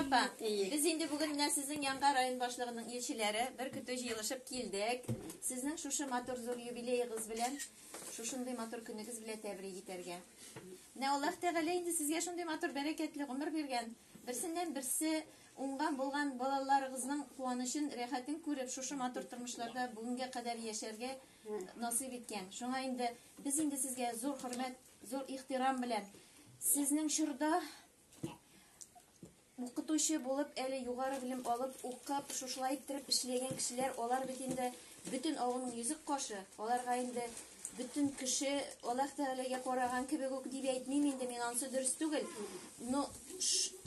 Апа, без инде бүген менә сезнең янга район башлыгының илчеләре бер көтү җыелышып килдек. Сезнең шушы матур зур юбилеегыз белән, шушындый матур көнегез белән тәбрик итәргә. Менә Аллаһ Тәгалә инде сезгә шундый матур бәрәкәтле гомер биргән. Берсеннән берсе уңган булган балаларыгызның куанычын, рәхәтен күреп, шушы матур тормышларда бүгенгә кадәр яшәргә насыйп иткән. Шуңа инде без инде сезгә зур хөрмәт, зур ихтирам белән сезнең чорда Укытучы булып, әле югары белем алып, укып, шушылай иттереп эшләгән кешеләр, алар бит инде бөтен авылның йөзек кашы, аларга инде бөтен кеше Аллаһ Тәгаләгә караган кебек үк дип әйтмим инде, мин ансы дөрес түгел. Но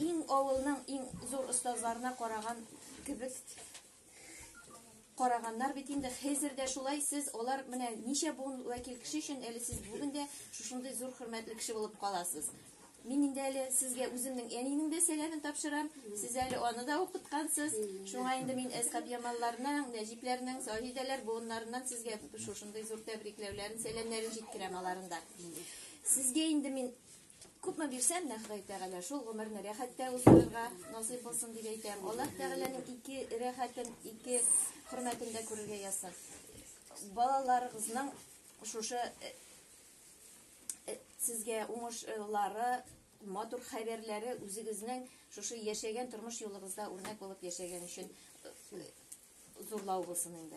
иң авылның иң зур остазларына караган кебек караганнар бит инде хәзер дә шулай сез алар менә ничә буын вәкил кеше өчен әле сез бүген дә шушындый зур хөрмәтле кеше булып каласыз мин инде әле сезгә үземнең әниемнең дә сәламен тапшырам сез әле аны да укыткансыз шуңа инде мин әскап ямалларның нәҗипләрнең саһидәләр буыннарыннан сезгә шушындый зур тәбрикләүләрен сәламнәрен җиткерәм аларында сезгә инде мин Күпме бирсәм дә Ходай Тәгалә шул гомерне рәхәттә уздырырга насыйп булсын дип әйтәм. Аллаһ Тәгаләнең ике рәхәтен, ике хөрмәтен дә күрергә язсын. Балаларыгызның шушы э, э, сезгә уңышлары, матур хәбәрләре үзегезнең шушы яшәгән тормыш юлыгызда үрнәк булып яшәгән өчен э, зурлау булсын инде.